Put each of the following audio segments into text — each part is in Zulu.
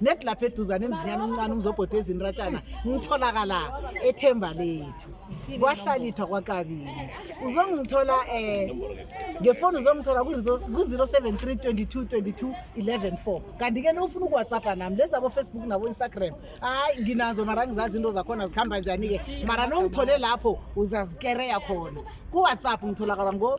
nedi lapha eduzane emzinyana omncane umzobhoda ezinratshana ngitholakala ethemba lethu kwahlalithwa kwakabili uzongithola um eh, ngefoni uzongithola ku-zero seven three twenty two twenty two eleven four kanti-ke nofuna ukuwhatsappa nami lezi abofacebook nabo-instagram hhayi nginazo mara ngizazi into zakhona zikhamba njani-ke mara nongithole lapho uzazikereya khona kuwhatsapp ngitholakala ngo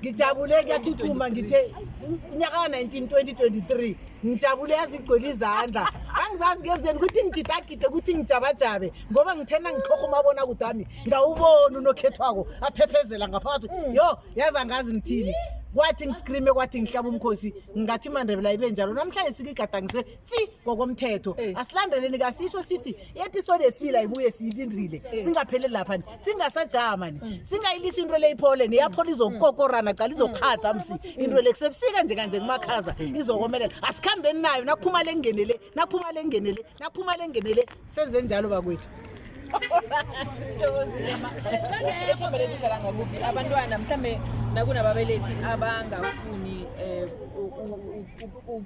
ngijabule kuyaqhuquma ngithe unyaka ka-19 2023 ngijabule yazi igcwele izandla angizazi kenzeni ukuthi ngigidagide ukuthi ngijabajabe ngoba ngithena ngikhoha umabona kude wami ngawuboni unokhethwako aphephezela ngaphakathi mm. yo yazi angazi ngithini kwathi ngiskrime kwathi ngihlaba umkhosi ngathi imandebela ibe njalo namhlanje sikigadangiswe si ngokomthetho eh. asilandeleni kasisho sithi i-episode esibili ayibuye siyilindile eh. singapheleli lapha ni singasajama ni mm. singayilisi into le iphole neyaphola izokukokorana cala izokhaza msi mm. into le kusebusika nje kanje kumakhaza mm. izokomelela asikhambeni nayo nakuphuma le ngene le nakuphuma le ngene le nakuphuma le ngene le senze njalo bakwethu abantwana mhlawumbe nakunababelethi abangafuni um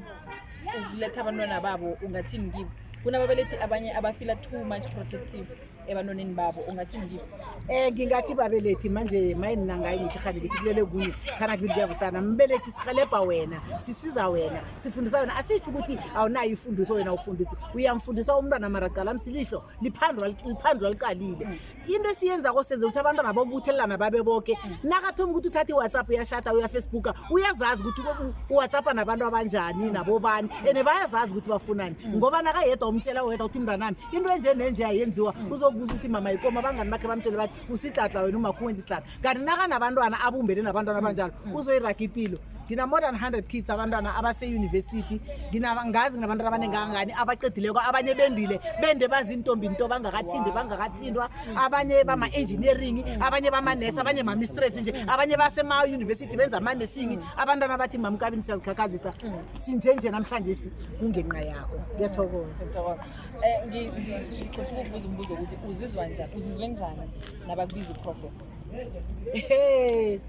ukuletha abantwana babo ungathini kibo kunababelethi abanye abafila too much protective ebantwaneni babo ungathini kibo um ngingathi babelethi manje maye mna ngayi ngithi rhani ngithi kulele kunye khana kubili kuyavusana mbelethi sihelebha wena sisiza wena sifundisa wena asitsho ukuthi awunayo ifundiso wena ufundisi uyamfundisa umntwana maracala msilihlo liphandwa liqalile into esiyenza kosenze ukuthi abantwana bokubuthelelana babe boke nakathoma ukuthi uthatha iwhatsapp uyashata uyafacebooka uyazazi ukuthi uwhatsappa nabantu abanjani nabobani and bayazazi ukuthi bafunani mm. ngoba nakayedwa umtshela wedwa ukuthi mntanami into enje nenje ayenziwa mm. uzokubuza ukuthi mama yikoma abangani bakhe bamtshele bathi usidladla wena umakhuwenza isidladla kanti nakanabantwana abumbene nabantwana abanjalo mm. uzoyiraga impilo ngina more than 100 kids abantwana abaseyunivesithi ngazi nginabantu abaningi kangangani abaqedileko abanye bendile bende bazintombi nto bangakathindi bangakathindwa abanye bama-engineering abanye bamanesi abanye mamistress nje abanye basemayunivesithi benza amanesingi abantwana bathi mamkabini siyazikhakhazisa sinjenje namhlanje kungenqa yakho ngiyathokoza um ngicosha ukubuza umbuzo ukuthi uzizwa njani uzizwe njani nabakubiza uprofesa Hey.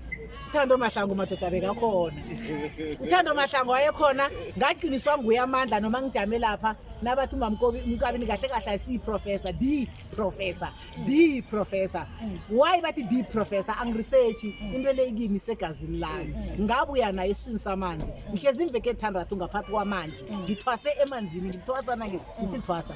Thando Mahlangu madoda bekakhona. Uthando Mahlangu wayekhona ngaqiniswa nguye amandla noma ngijame lapha nabathi umamkobi umkabi nikahle kahle si professor D professor D professor. Why bathi D professor angiresearch into leyikimi segazini lami. Ngabuya naye isini samanzi. Ngihlezi imveke ethandathu ngaphathi kwamanzi. Ngithwase emanzini ngithwasa nange ngisithwasa.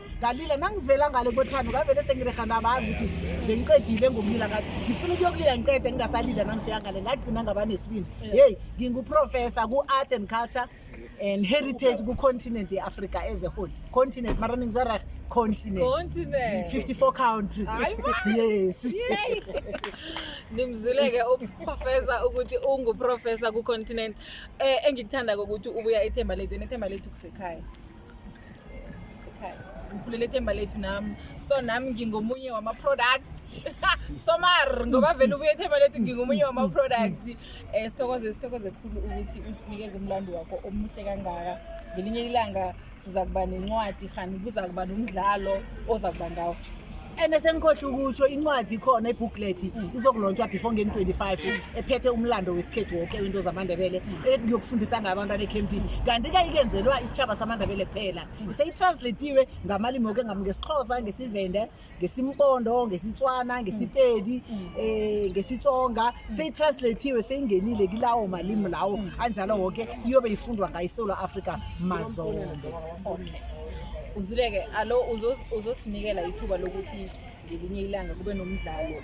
ngalila nangivela ngale kothando ngavele sengirega nabazi ukuthi bengiqedile ngokulila ngathi ngifuna ukuyokulila ngiqede ngingasalila nangifika ngale ngagcina ngaba nesibindi yeyi nginguprofessor ku-art and culture and heritage kucontinent ye-africa as a whole continent mara ningizwa reg continent 54 country yes nimzuleke uprofessor ukuthi unguprofessor kucontinent um eh, engikuthanda kokuthi ubuya ethemba lethu nethemba lethu kusekhaya ngikhulele ithemba lethu nami so nami ngingomunye wama-product somar ngoba vele ubuye ethemba lethu ngingomunye wama-product um eh, sithokoze sithokoze khulu ukuthi usinikeze umlando wakho omuhle kangaka ngelinye ilanga siza kuba nencwadi rhani kuza kuba nomdlalo oza kuba ngawo and sengikhohle ukusho incwadi ikhona ibooklet mm. izokulontshwa before ngeni 25 mm. ephethe umlando wesikhethu woke wento zamandebele yokufundisa ngabantwana ekhempini kanti kayikenzelwa isitshaba samandebele kuphela mm. seyitranslatiwe ngamalimi woke ngesixhosa ngesivende ngesimpondo ngesitswana ngesipedi um eh, ngesitsonga seyitranslatiwe seyingenile kilawo malimi lawo anjalo woke iyobe ifundwa ngayisola africa mazombo okay. Uzuleke alo uzosinikela ithuba lokuthi ngelinye ilanga kube nomdlalo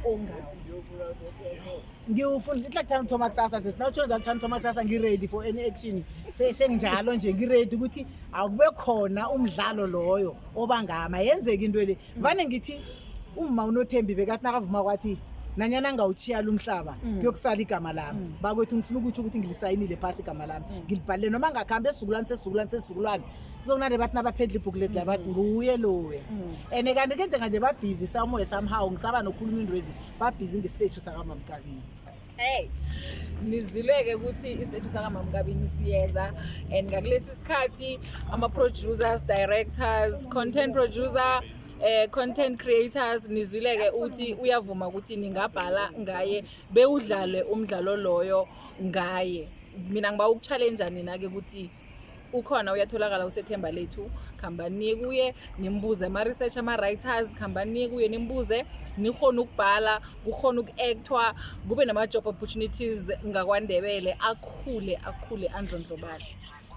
ongawo ngiwufuna ithi lakuthanda uthoma kusasa sethi na uthwenza luthanda uthoma kusasa ngi-ready for any action senginjalo nje ngi-ready ukuthi awukube khona umdlalo loyo obangama yenzeka into le vane ngithi umma unothembi bekathi nakavuma kwathi nanyana ngawuchiyala umhlaba mm. kuyokusala igama lami mm. bakwethu ngifuna ukutsho ukuthi ngilisayinile phasi igama lami mm. ngilibhalile noma ngakuhambe esizukulwane sesizukulwane sesizukulwane zonare bathi nabaphendla ibhuku leti la bathi nguye loya and kanti ke njenganje babhizi samoya somehow ngisaba nokhuluma into ezi babhizi ngesiteji sakamamkabini hey nizileke ukuthi isiteji sakamamkabini siyeza and ngakulesi sikhathi ama-producers directors content producer eh content creators nizwileke uthi uyavuma ukuthi ningabhala ngaye bewudlale umdlalo loyo ngaye mina ngiba ukuchallenge nina ke ukuthi ukhona uyatholakala usethemba lethu khambani niye kuye nimbuze ama-research ama-writers khambani niye kuye nimbuze nikhona ukubhala kukhona uku-actwa kube nama-job opportunities ngakwandebele akhule akhule andlondlobale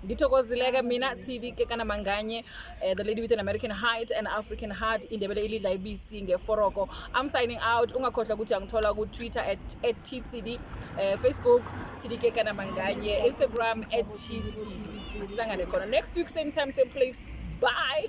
ngithokozileke mina tshidi ke kana manganye Uh, the lady with an American height and African heart indebele ilidla ibisi ngeforoko I'm signing out ungakhohlwa ukuthi angithola ku Twitter at, at TCD uh, eh, Facebook TDK kana manganye Instagram at TCD sihlangane khona next week same time same place bye